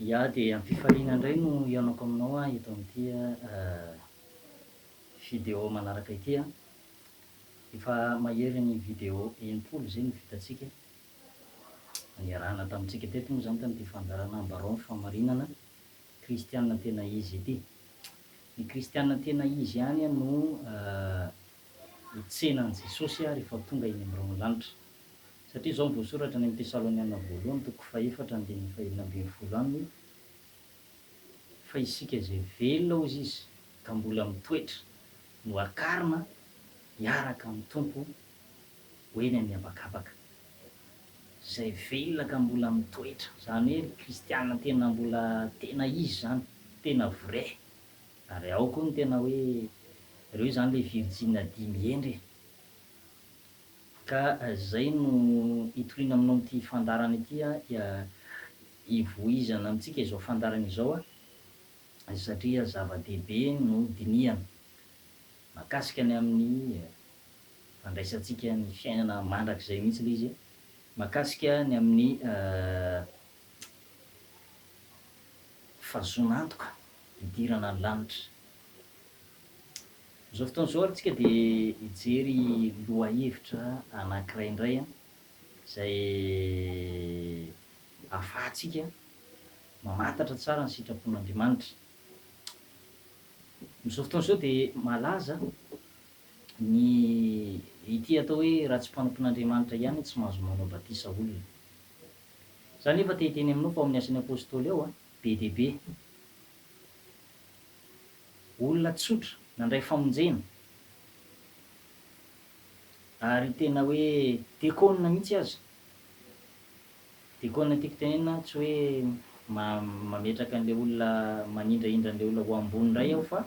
Ia dia amim-pifaliana indray no hihaonako aminao aho eto amin'ity video manaraka ity an! Efa mahery ny video enim-polo izay no vitantsika, niarahana tamintsika teto moa izany tamin'ity fandaharana Ambarao ny Fahamarinana Kristiana Tena Izy ity. Ny Kristiana tena izy ihany no ho tsena an'i Jesosy aho rehefa tonga eny amin'ireo ny lanitra. Satria izao no voasoratra any amin'ny Tesaloniana Voalohany toko fahefatra andininy fahenina ambin'ny folo aminy, Fa isika izay velona, hoy Izy, ka mbola mitoetra, no hakarina hiaraka amin'ny Tompo ho eny amin'ny habakabaka. Izay velona ka mbola mitoetra, izany hoe ry kristiana tena mbola tena izy izany, tena vrai. Ary ao koa ny tena hoe ireo izany ilay virjina dimy hendry e! Ka izay no hitoriana aminao amin'ity fandaharana ity hivoizana amintsika izao fandaharana izao satria zava-dehibe no dinihana mahakasika ny amin'ny fandraisantsika ny fiainana mandrakizay mihitsy ilay izy e! Mahakasika ny amin'ny Fa zon'antoka hidirana ny lanitra. Amin'izao fotoana izao ary tsika dia hijery lohahevitra anankiray indray an, izay ahafahantsika mamantatra tsara ny sitrapon'Andriamanitra. Amin'izao fotoana izao dia malaza ny ity atao hoe ratsy mpanompon'Andriamanitra ihany tsy mahazo manao batisa olona. Za nefa te hiteny aminao fa ao amin'ny asan'ny apostoly ao be dia be olona tsotra nandray famonjena ary tena hoe dekôna mihitsy aza, dekôna tiako tenenina tsy hoe mametraka an'ilay olona manindrahindra an'ilay olona ho ambony indray aho fa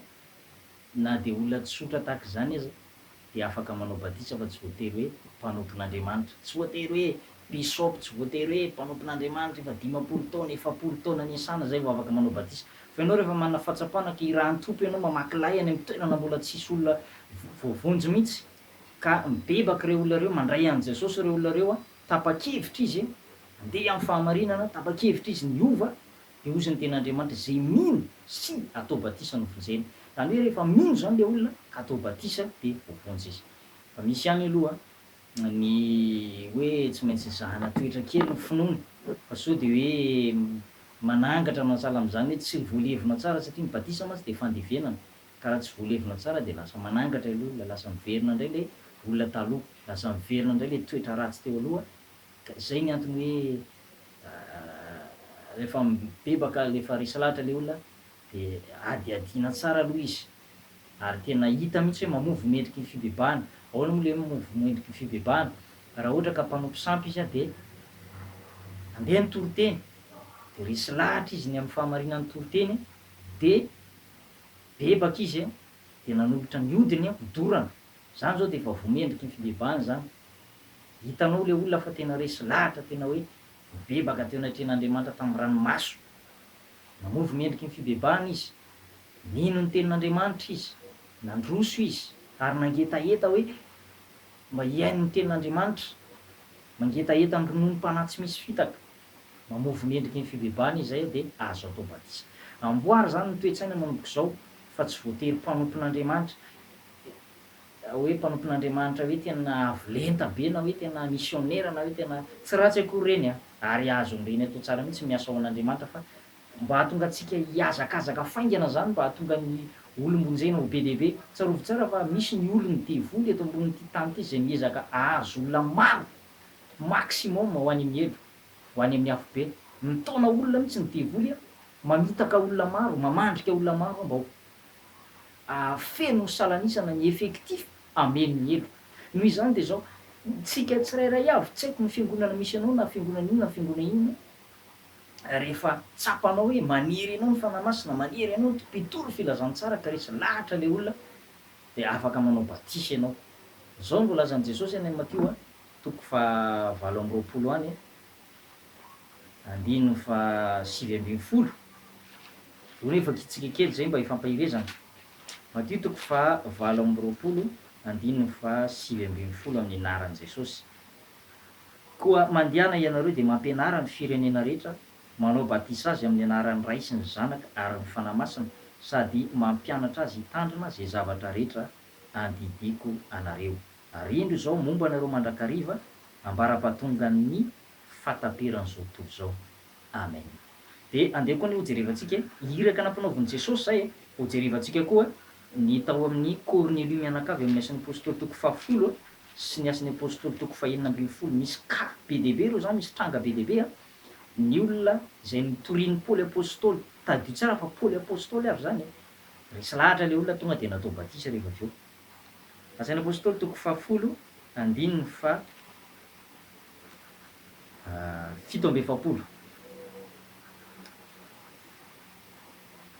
na dia olona tsotra tahaka izany aza dia afaka manao batisa fa tsy voatery hoe mpanompon'Andriamanitra. Tsy voatery hoe bishop, tsy voatery hoe mpanompon'Andriamanitra efa dimampolo taona, efapolo taona niasana izay vao afaka manao batisa. Fa ianao rehefa manana fahatsapana ka irahan'ny Tompo ianao mamaky lay any amin'ny toerana mbola tsisy olona voavonjy mihitsy, ka mibebaka ireo olona ireo, mandray an'i Jesosy ireo olona ireo, tapa-kevitra izy handeha amin'ny fahamarinana, tapa-kevitra izy ny hiova, Dia hozy ny tenin'Andriamanitra, izay mino sy atao batisa no vonjena. Izany hoe rehefa mino izany ilay olona ka atao batisa dia voavonjy izy. Fa misy ihany aloha ny hoe tsy maintsy mizahana toetra kely ny finoana, fa sao dia hoe manangatra anao sahala amin'izany hoe tsy voalevina tsara, satria ny batisa mantsy dia fandevenana, ka raha tsy voalevina tsara dia lasa manangatra ilay olona, lasa miverina indray ilay olona taloha, lasa miverina indray ilay toetra ratsy teo aloha, ka izay ny antony hoe rehefa mibebaka le efa resy lahatra le olona de adihadiana tsara aloha izy ary tena hita mihitsy hoe mamovo ny endriky ny fibebahana, ahoana moa le hoe mamovo ny endriky ny fibebahana, raha ohatra ka mpanompo sampy izy de andeha ny toriteny de resy lahatra izy ny amin'ny fahamarinan'ny toriteny de bebaka izy de nanolotra ny odiny ho dorana, zany zao de efa voa mendriky ny fibebahana zany Hitanao ilay olona fa tena resy lahatra tena hoe nibebaka teo anatrehan'Andriamanitra tamin'ny ranomaso. Nanovo ny endriky ny fibebahana izy. Nino ny tenin'Andriamanitra izy. Nandroso izy ary nangetaheta hoe mba hihaino ny tenin'Andriamanitra. Mangetaheta ny rononom-panahy tsy misy fitaka. Mamovo ny endriky ny fibebahana izy izay dia azo atao batisa. Amboary izany ny toe-tsaina manomboka izao fa tsy voatery mpanompon'Andriamanitra. hoe mpanompon'Andriamanitra hoe tena avo lenta be na hoe tena misionera na hoe tena tsy ratsy akory ireny an! ary azony ireny atao tsara mihitsy ny asa ho an'Andriamanitra fa mba hahatonga antsika hihazakazaka faingana izany mba hahatonga ny olom-bonjena ho be dia be, tsarovy tsara fa misy ny olon'ny devoly eto ambonin'ity tany ity izay miezaka hahazo olona maro maximum ho any amin'ny helo, ho any amin'ny afobe, mitaona olona mihitsy ny devoly an! mamitaka olona maro, mamandrika olona maro an! mba ho. Ahafeno ny salan'isana ny effectif hameno ny heloka. Noho izany dia izao, tsika tsirairay avy, tsy haiko ny fiangonana misy anao na fiangonana inona na fiangonana inona, rehefa tsapanao hoe maniry anao ny Fanahy Masina, maniry anao ny mpitory filazantsara ka resy lahatra ilay olona dia afaka manao batisa ianao. Izao no voalazan'i Jesosy any amin'ny Matio toko fahavalo amby roapolo any. Andininy fahasivy ambin'ny folo, Io re efa kitsika kely izay mba hifampaherezana. Matio toko faha valo amby roapolo andininy faha sivy ambin'ny folo amin'ny anaran'i Jesosy. Koa mandehana ianareo dia mampianara ny firenena rehetra, manao batisa azy amin'ny anaran'ny Ray sy ny Zanaka ary ny Fanahy Masina sady mampianatra azy hitandrina izay zavatra rehetra andidiako anareo. Ary indro izao momba anareo mandrakariva ambara-pahatongan'ny fahataperan'izao tontolo izao. Amen. Dia andeha koa anie hojerevantsika e. Iraka nampanaovin'i Jesosy izay e. Hojerevantsika koa ny tao amin'i Kornelio mianakavy amin'ny Asan'ny Apostoly toko fahafolo sy ny Asan'ny Apostoly toko fahenina ambin'ny folo. Misy cas be dia be ireo izany, misy tranga be dia be an. Ny olona izay notorian'i Paoly Apostoly, tadidio tsara fa Paoly Apostoly avy izany e. Resy lahatra ilay olona tonga dia natao batisa rehefa avy eo. Asaina Apôstôly toko fahafolo andininy faha fito amby efapolo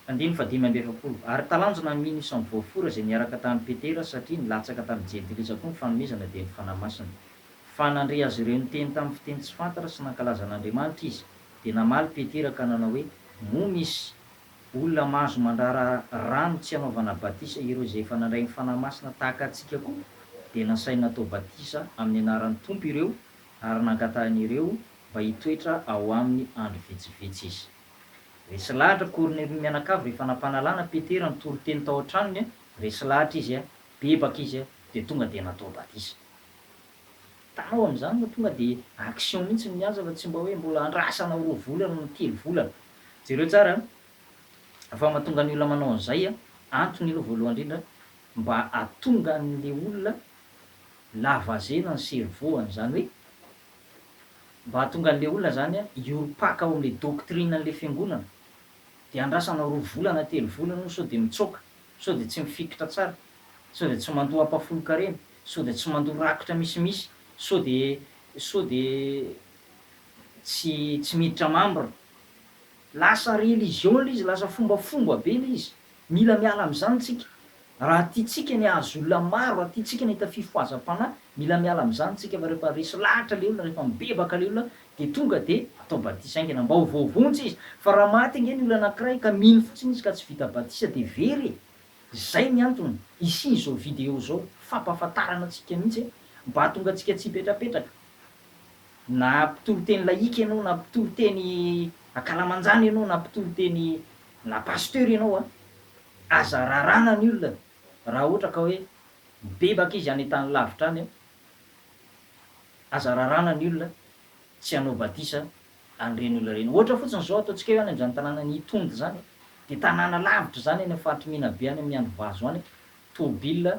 andininy faha dimy amby efapolo Ary talanjona amin ny samy voafora izay niaraka tamin Petera satria nilatsaka tamin jentilisa koa ny fanomezana dia ny Fanahy Masina. Fa nandre azy ireo niteny tamin fiteny tsy fantatra sy nankalaza an Andriamanitra izy. Dia namaly Petera ka nanao hoe, Moa misy. Olona mahazo mandrara rano tsy hanaovana batisa ireo izay efa nandray ny Fanahy Masina tahaka antsika koa, dia nasainy natao batisa amin'ny anaran'ny Tompo ireo ary nangatahiny ireo mba hitoetra ao aminy andro vitsivitsy izy. Resy lahatra Kornelio ny mianakavy rehefa nampanalana Petera nitoriteny tao an-tranony, resy lahatra izy, bebaka izy dia tonga dia natao batisa. Tao amin'izany no tonga dia action mihitsy ny mihaja fa tsy mba hoe mbola andrasanao roa volana na telo volana. Jereo tsara an! fa mahatonga ny olona manao an'izay an! antony aloha voalohany indrindra mba hahatonga an'ilay olona lavazena ny cerveau-any, izany hoe mba hahatonga an'ilay olona izany hiorim-paka ao amin'ilay doctrine an'ilay fiangonana, dia andrasanao roa volana telo volana io sao dia mitsoaka, sao dia tsy mifikitra tsara. Sao dia tsy mandoa ampahafolon-karena? Sao dia tsy mandoa rakotra misimisy? Sao dia sao dia tsy tsy miditra membre? Lasa religion ilay izy, lasa fombafomba be ilay izy. Mila miala amin'izany tsika. Raha tiantsika ny hahazo olona maro, raha tiantsika ny hahita fifohazam-panahy, mila miala amin'izany tsika fa rehefa resy lahatra ilay olona, rehefa mibebaka ilay olona dia tonga dia atao batisa haingana mba ho voavonjy izy. Fa raha maty ange ny olona anankiray ka mino fotsiny izy ka tsy vita batisa dia very e! Izay ny antony isian'izao vidéo izao, fampahafantarana antsika mihitsy hoe mba hahatonga antsika tsy hipetrapetraka. Na mpitory teny laïque ianao na mpitory teny ankalamanjana ianao na mpitory teny na pasteur ianao a, aza raràna ny olona raha ohatra ka hoe mibebaka izy any an-tany lavitra any a, aza raràna ny olona tsy hanao badisa an'ireny olona ireny. Ohatra fotsiny izao, ataontsika hoe any amin'izany tanànan'i Itondy izany, dia tanàna lavitra izany any amin'ny faritry Menabe any amin'ny andro vazo any, tôbila,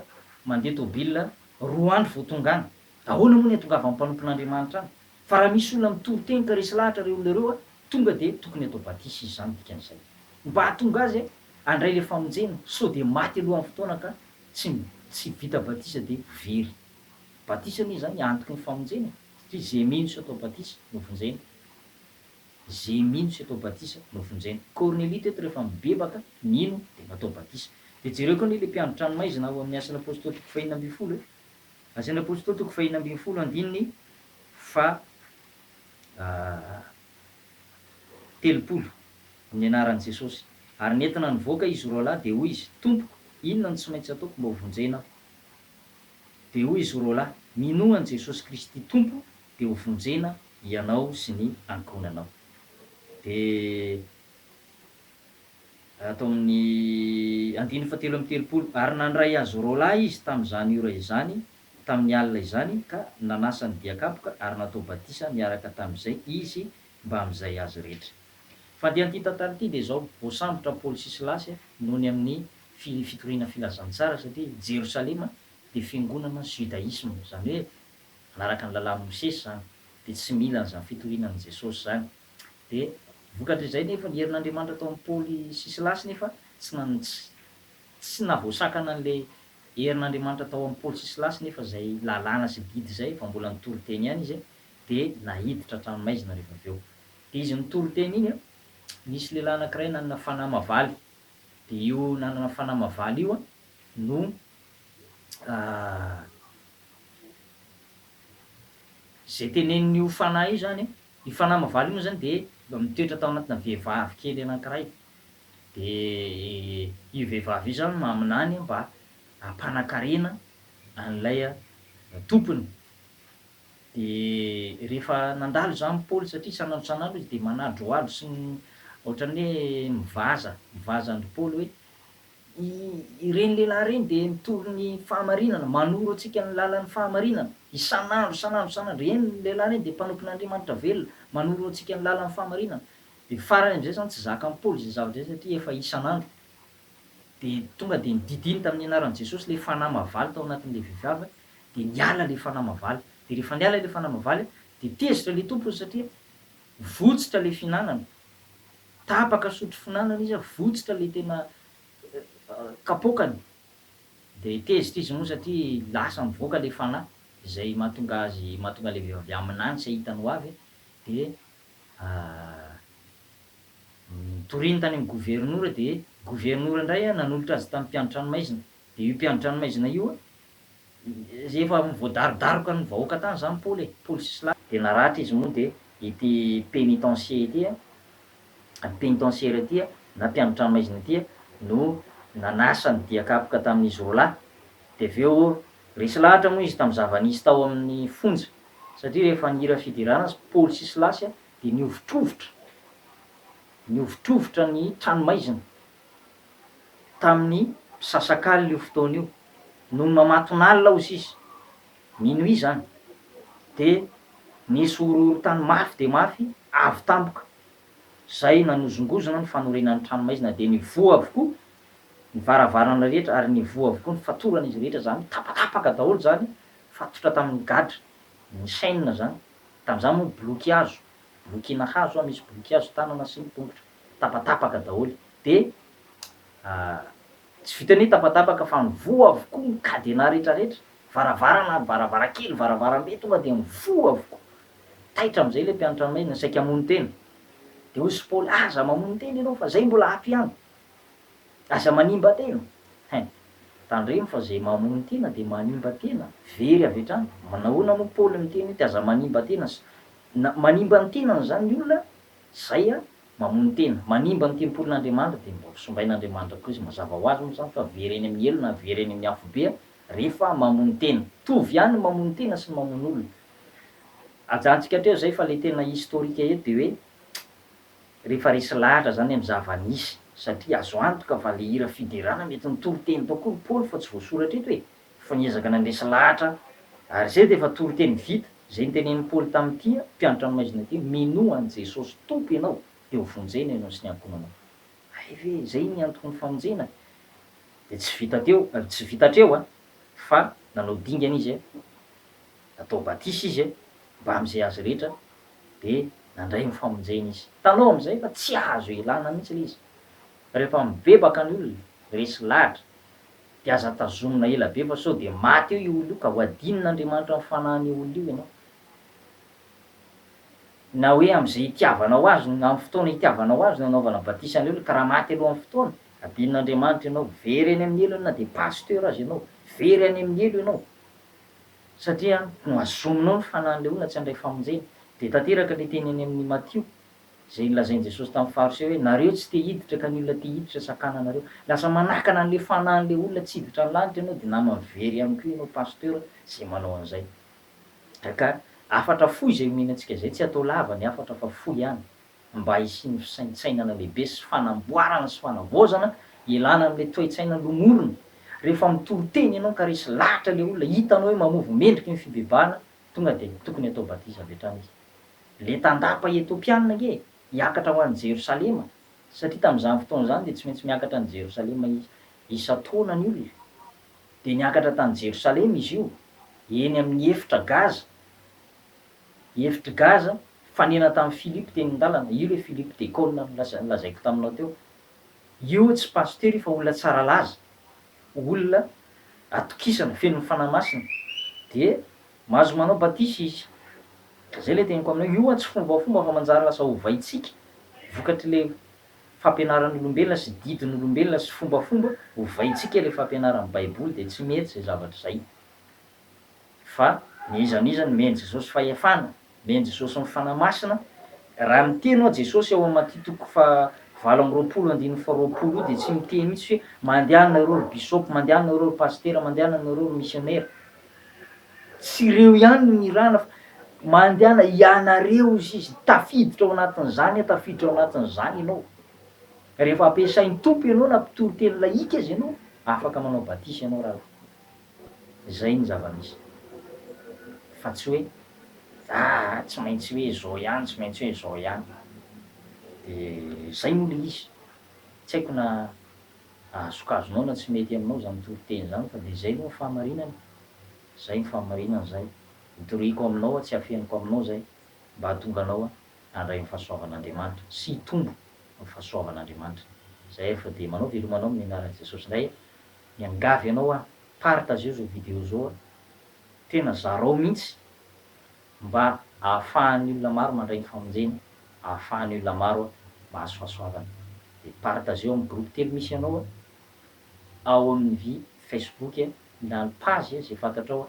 mandeha tôbila, roa andro vao tonga any. Ahoana moa ny hahatongavan'ny mpanompon'Andriamanitra any? Fa raha misy olona mitory teny ka resy lahatra ireo olona ireo, tonga dia tokony hatao batisa izy izany dikan'izay. Mba hahatonga azy handray ilay famonjena, sao dia maty alohan'ny fotoana ka tsy tsy vita batisa dia very. Batisa anie izany antoky ny famonjena e! Satria ze mino sy atao batisa no vonjena. Ze mino sy atao batisa no vonjena. Kornelia teto rehefa mibebaka, nino, dia natao batisa. Dia jereo koa anie ilay mpiandry tranomaizina ao amin'ny Asan'ny Apôstôly toko faheenina ambin'ny folo e. Asan'ny Apôstôly toko faheenina ambin'ny folo andininy faha telopolo, Ny anaran'i Jesosy. Ary nentina nivoaka izy roalahy dia hoy izy, Tompoko, inona no tsy maintsy ataoko mba ho vonjena aho? Dia hoy izy roalahy, Minoa an'i Jesosy Kristy Tompo, dia ho vonjena hianao sy ny ankohonanao. Dia ato amin'ny andininy fahatelo amby telopolo, Ary nandray azy roalahy izy tamin'izany ora izany, tamin'ny alina izany, ka nanasa ny diakapoka, ary natao batisa niaraka tamin'izay izy mbamin'izay azy rehetra. Fa dia an'ity tantara ity dia izao, voasambotra Paoly sy Silasy noho ny amin'ny fitoriana filazantsara satria i Jerosalema dia fiangonana judaisme, izany hoe manaraka ny lalàn'i Mosesy izany, dia tsy mila an'izany fitoriana an'i Jesosy izany. Dia vokatr'izay nefa ny herin'Andriamanitra tao amin'i Paoly sy Silasy nefa tsy tsy navoasakana an'ilay herin'Andriamanitra tao amin'i Paoly sy Silasy nefa izay lalàna sy didy izay efa mbola nitory teny ihany izy dia naiditra an-tranomaizina rehefa avy eo. Dia izy nitory teny iny an, nisy lehilahy anankiray nanana fanahy mavaly, dia io nanana fanahy mavaly io an no izay tenenin'io fanahy io izany an, io fanahy mavaly io moa izany dia mba mitoetra tao anatina vehivavy kely anankiray, dia io vehivavy io izany maminany mba hampanan-karena an'ilay tompony, Dia rehefa nandalo izany Paoly, satria isan'andro isan'andro izy dia manadrohadro sy ohatran'ny hoe mivaza, mivaza an-dry Paoly hoe, Ireny lehilahy ireny dia mitory ny fahamarinana, manoro antsika ny lalan'ny fahamarinana, isan'andro, isan'andro, isan'andro, ireny ny lehilahy ireny dia mpanompon'Andriamanitra velona, manoro antsika ny lalan'ny fahamarinana. Dia farany amin'izay izany tsy zakan'i Paoly izay zavatra izay satria efa isan'andro. Dia tonga dia nodidiny tamin'ny anaran'i Jesosy ilay fanahy mahavalo tao anatin'ilay vehivavy. dia niala ilay fanahy mavaly. Dia rehefa niala ilay fanahy mavaly dia tezitra ilay tompony satria votsitra ilay fihinanana. Tapaka sotro fihinanana izy, votsitra ilay tena kapoakany. Dia tezitra izy moa satria lasa mivoaka ilay fanahy izay mahatonga azy, mahatonga ilay vehivavy aminany tsy hahitany ho avy. Dia nitoriany tany amin'ny governora dia governora indray nanolotra azy tamin'ny mpiandry tranomaizina. Dia io mpiandry tranomaizina io Efa voadarodaroka ny vahoaka tany zany Paoly e, Paoly sy Sila. Dia naratra izy moa dia ity pénitencier ity a, pénitentiaire ity a, na mpiandrin-tranomaizina ity a, no nanasa ny dia kapoka tamin'izy roa lahy. Dia avy eo, resy lahatra moa izy tamin'ny zava-nisy tao amin'ny fonja, satria rehefa nihira fiderana azy Paoly sy Silasy dia nihovitrovitra, nihovitrovitra ny tranomaizina. tamin'ny mpisasakalina io fotoana io, nony mamatonalina hozy izy, minuit izany, dia nisy horohorontany mafy dia mafy avy tampoka, izay nanozongozona ny fanorenan'ny tranomaizina, dia nivoha avokoa ny varavarana rehetra ary nivoha avokoa ny fatoran'izy rehetra, izany hoe tapatapaka daholo izany fatotra tamin'ny gadra, ny chaine izany, tamin'izany moa ny boloky hazo, bolokiana hazo, misy boloky hazo tanana sy ny tongotra. tapatapaka daholo de ah tsy vitan'ny tapatapaka fa mivoha avokoa ny cadenas rehetra rehetra, varavarana, varavarankely, varavarambe tonga de mivoha avokoa, taitra amzay le mpianatra maina saika hamono tena de hoy sy Paoly aza mamono tena ianao fa zay mbola ato ihany, aza manimba tena hein! tandremo fa zay mamono tena de manimba tena very avy hatrany, nahoana moa Paoly niteny hoe aza manimba tena, na manimba ny tenany zany ny olona Zay an! Mamono tena. Manimba ny tempolin'Andriamanitra dia mba hosimbain'Andriamanitra koa izy. Mazava ho azy moa izany fa very eny amin'ny helo na very eny amin'ny afobe rehefa mamono tena. Mitovy ihany ny mamono tena sy ny mamono olona. Ajantsika hatreo izay fa ilay tena historique eto dia hoe rehefa resy lahatra izany amin'ny zava-nisy satria azo antoka fa ilay hira fiderana mety nitory teny tao koa ry Paoly fa tsy voasoratra eto e! Fa niezaka nandresy lahatra aho. Ary izay dia efa toriteny vita. Izay notenenin'i Paoly tamin'ny tia mpianatra ny maizina dia, Minoa an'i Jesosy Tompo ianao, dia hovonjena ianao sy ny ankohonanao. Hay ve izay ny antokon'ny famonjena? Dia tsy vita teo, tsy vita hatreo an! Fa nanao dingana izy, natao batisa izy mbamin'izay azy rehetra, dia nandray ny famonjena izy. Hitanao amin'izay fa tsy azo ialana mihitsy ilay izy. Rehefa mibebaka ny olona, resy lahatra. Dia aza tazomina ela be fa sao dia maty eo io olona io ka ho adinina Andriamanitra amin'ny fanahin'io olona io ianao. Na hoe amin'izay itiavanao azy no, amin'ny fotoana itiavanao azy no anaovana batisa an'ilay olona ka raha maty alohan'ny fotoana, adinina Andriamanitra ianao. Very any amin'ny helony na dia pasteur aza ianao. Very any amin'ny helo ianao. Satria no azominao ny fanahin'ilay olona tsy handray famonjena. Dia tanteraka ilay teny any amin'ny Matio, Izay nolazain'i Jesosy tamin'ny Fariseo hoe, Nareo tsy te hiditra ka ny olona te hiditra sakana anareo. Lasa manakana an'ilay fanahin'ilay olona tsy hiditra ny lanitra ianao dia naman'ny very ihany koa ianao Pasteur izay manao an'izay. Ka hafatra fohy izay omena antsika izay, tsy hatao lava ny hafatra fa fohy ihany mba hisian'ny fisaintsainana lehibe sy fanamboarana sy fanavaozana hialana amin'ilay toetsaina lomorina. Rehefa mitory teny ianao ka resy lahatra ilay olona hitanao hoe mamovo mendriky ny fibebahana Tonga dia tokony atao batisa avy hatrany izy. Ilay tandapa Etopiana ange hiakatra ho any Jerosalema, satria tamin'izany fotoana izany dia tsy maintsy miakatra any Jerosalema izy isan-taona ny olona. Dia niakatra tany Jerosalema izy io, eny amin'ny efitra Gaza, efitr'i Gaza, fanena tamin'i Philippe teny an-dalana, io ilay Philippe Decolle nolazaiko taminao teo. Io tsy pasitera io fa olona tsara laza, olona atokisana, fenon'ny Fanahy Masina, dia mahazo manao batisa izy. Izay ilay teniko aminao, io tsy fombafomba fa manjary lasa ovaintsika, vokatr'ilay fampianaran'olombelona sy didin'olombelona sy fombafomba, ovaintsika ilay fampianaran'ny Baiboly, dia tsy mety izay zavatra izay. fa ny iza n'iza no mihaino Jesosy fahefana, mihaino Jesosy ny Fanahy Masina, raha miteny hoa Jesosy ao amin'ny Matia toko fahavalo amby roapolo andininy faharoapolo io dia tsy miteny mihitsy hoe mandehana nareo ry bisôpy, mandehana nareo ry pasitera, mandehana nareo ry misionera. Tsy ireo ihany no nirahana fa mandehana ianareo hozy izy, tafiditra ao anatin'izany aho, tafiditra ao anatin'izany ianao. Rehefa ampiasain'ny Tompo ianao na mpitoriteny lahika aza ianao, afaka manao batisa ianao raha. Izay ny zava-misy. Fa tsy hoe ah tsy maintsy hoe izao ihany, tsy maintsy hoe izao ihany. Dia izay moa ilay izy. Tsy haiko na azokazonao na tsy mety aminao izany toriteny izany fa dia izay moa ny fahamarinana. Izay ny fahamarinana izay. Itoriako aminao aho, tsy afeniko aminao izay mba hahatonga anao handray ny fahasoavan'Andriamanitra sy hitombo amin'ny fahasoavan'Andriamanitra. Izay ary fa dia manao veloma anao amin'ny anaran'i Jesosy indray. Miangavy anao aho, partageo zao video zao a! Tena zarao mintsy mba ahafahan'ny olona maro mandray ny famonjena, ahafahan'ny olona maro mahazo fahasoavana. Dia partageo amin'ny groupe telo misy anao a! Ao amin'ny vy facebook a! Ilà ny page a! Zay fantatrao a!